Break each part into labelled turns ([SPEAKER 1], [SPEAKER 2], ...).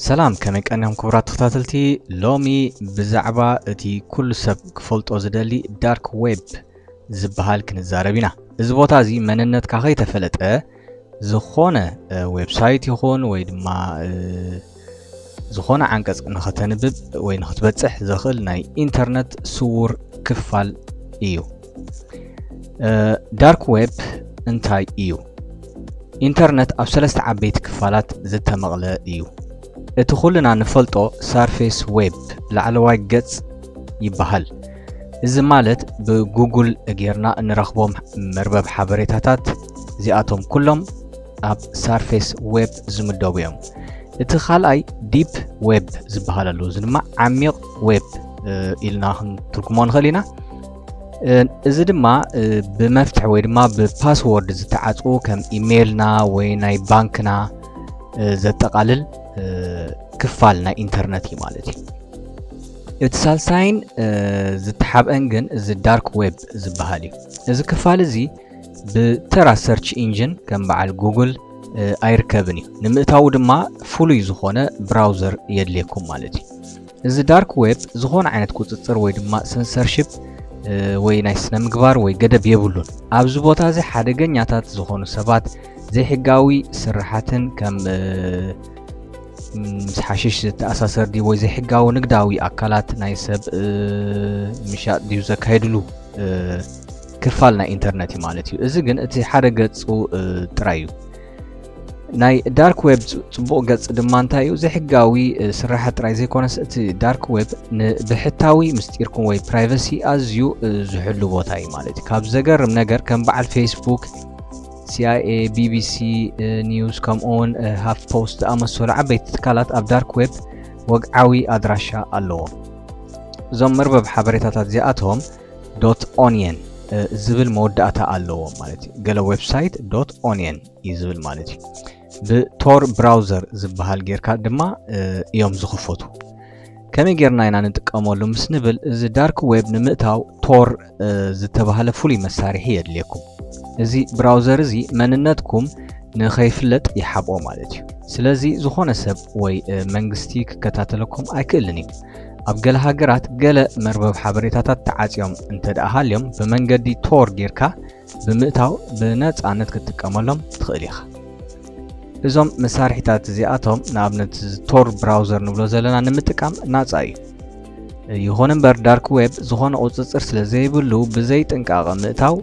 [SPEAKER 1] ሰላም ከመይ ቀኒኹም ክቡራት ተኸታተልቲ ሎሚ ብዛዕባ እቲ ኩሉ ሰብ ክፈልጦ ዝደሊ ዳርክ ዌብ ዝበሃል ክንዛረብ ኢና እዚ ቦታ እዚ መንነትካ ከይተፈለጠ ዝኾነ ዌብሳይት ይኹን ወይ ድማ ዝኾነ ዓንቀጽ ንኸተንብብ ወይ ንኽትበጽሕ ዘኽእል ናይ ኢንተርነት ስውር ክፋል እዩ ዳርክ ዌብ እንታይ እዩ ኢንተርነት ኣብ ሰለስተ ዓበይቲ ክፋላት ዝተመቕለ እዩ እቲ ኩልና ንፈልጦ ሳርፌስ ዌብ ላዕለዋይ ገጽ ይበሃል እዚ ማለት ብጉጉል ጌርና እንረኽቦም መርበብ ሓበሬታታት እዚኣቶም ኩሎም ኣብ ሳርፌስ ዌብ ዝምደቡ እዮም እቲ ካልኣይ ዲፕ ዌብ ዝበሃል ኣለዉ እዚ ድማ ዓሚቕ ዌብ ኢልና ክንትርጉሞ ንኽእል ኢና እዚ ድማ ብመፍትሒ ወይ ድማ ብፓስዎርድ ዝተዓፅዉ ከም ኢሜይልና ወይ ናይ ባንክና ዘጠቓልል ክፋል ናይ ኢንተርነት እዩ ማለት እዩ እቲ ሳልሳይን ዝተሓብአን ግን እዚ ዳርክ ዌብ ዝበሃል እዩ። እዚ ክፋል እዚ ብተራ ሰርች ኢንጂን ከም በዓል ጉግል ኣይርከብን እዩ። ንምእታዉ ድማ ፍሉይ ዝኾነ ብራውዘር የድልየኩም ማለት እዩ። እዚ ዳርክ ዌብ ዝኾነ ዓይነት ቁፅፅር ወይ ድማ ሰንሰርሽፕ ወይ ናይ ስነ ምግባር ወይ ገደብ የብሉን። ኣብዚ ቦታ እዚ ሓደገኛታት ዝኾኑ ሰባት ዘይሕጋዊ ስራሓትን ከም ምስ ሓሽሽ ዝተኣሳሰር ድዩ ወይ ዘይሕጋዊ ንግዳዊ ኣካላት ናይ ሰብ ምሻጥ ድዩ ዘካየድሉ ክፋል ናይ ኢንተርነት እዩ ማለት እዩ እዚ ግን እቲ ሓደ ገፁ ጥራይ እዩ ናይ ዳርክ ዌብ ፅቡቕ ገፅ ድማ እንታይ እዩ ዘይሕጋዊ ስራሐ ጥራይ ዘይኮነስ እቲ ዳርክ ዌብ ንብሕታዊ ምስጢርኩም ወይ ፕራይቨሲ ኣዝዩ ዝሕሉ ቦታ እዩ ማለት እዩ ካብ ዘገርም ነገር ከም በዓል ፌስቡክ ሲኣይኤ፣ ቢቢሲ ኒውስ ከምኡውን ሃፍ ፖስት ዝኣመሰሉ ዓበይቲ ትካላት ኣብ ዳርክ ዌብ ወግዓዊ ኣድራሻ ኣለዎም። እዞም መርበብ ሓበሬታታት እዚኣቶም ዶት ኦንየን ዝብል መወዳእታ ኣለዎም ማለት እዩ። ገለ ዌብሳይት ዶት ኦንየን እዩ ዝብል ማለት እዩ። ብቶር ብራውዘር ዝበሃል ጌርካ ድማ እዮም ዝኽፈቱ። ከመይ ጌርና ኢና ንጥቀመሉ ምስ ንብል እዚ ዳርክ ዌብ ንምእታው ቶር ዝተባህለ ፍሉይ መሳርሒ የድልየኩም። እዚ ብራውዘር እዚ መንነትኩም ንኸይፍለጥ ይሓብኦ ማለት እዩ። ስለዚ ዝኾነ ሰብ ወይ መንግስቲ ክከታተለኩም ኣይክእልን እዩ። ኣብ ገለ ሃገራት ገለ መርበብ ሓበሬታታት ተዓጽዮም እንተ ደኣ ሃልዮም ብመንገዲ ቶር ጌርካ ብምእታው ብነጻነት ክትጥቀመሎም ትኽእል ኢኻ። እዞም መሳርሒታት እዚኣቶም ንኣብነት ቶር ብራውዘር ንብሎ ዘለና ንምጥቃም ናጻ እዩ። ይኹን እምበር ዳርክ ዌብ ዝኾነ ቁፅፅር ስለ ዘይብሉ ብዘይ ጥንቃቐ ምእታው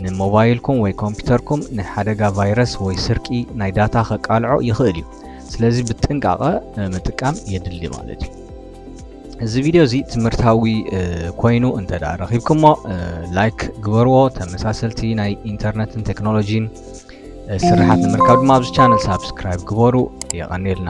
[SPEAKER 1] ንሞባይልኩም ወይ ኮምፒውተርኩም ንሓደጋ ቫይረስ ወይ ስርቂ ናይ ዳታ ከቃልዖ ይኽእል እዩ። ስለዚ ብጥንቃቐ ምጥቃም የድሊ ማለት እዩ። እዚ ቪድዮ እዚ ትምህርታዊ ኮይኑ እንተ ደኣ ረኺብኩሞ ላይክ ግበርዎ ተመሳሰልቲ ናይ ኢንተርነትን ቴክኖሎጂን ስርሓት ንምርካብ ድማ ኣብዚ ቻነል ሳብስክራይብ ግበሩ የቐኒልና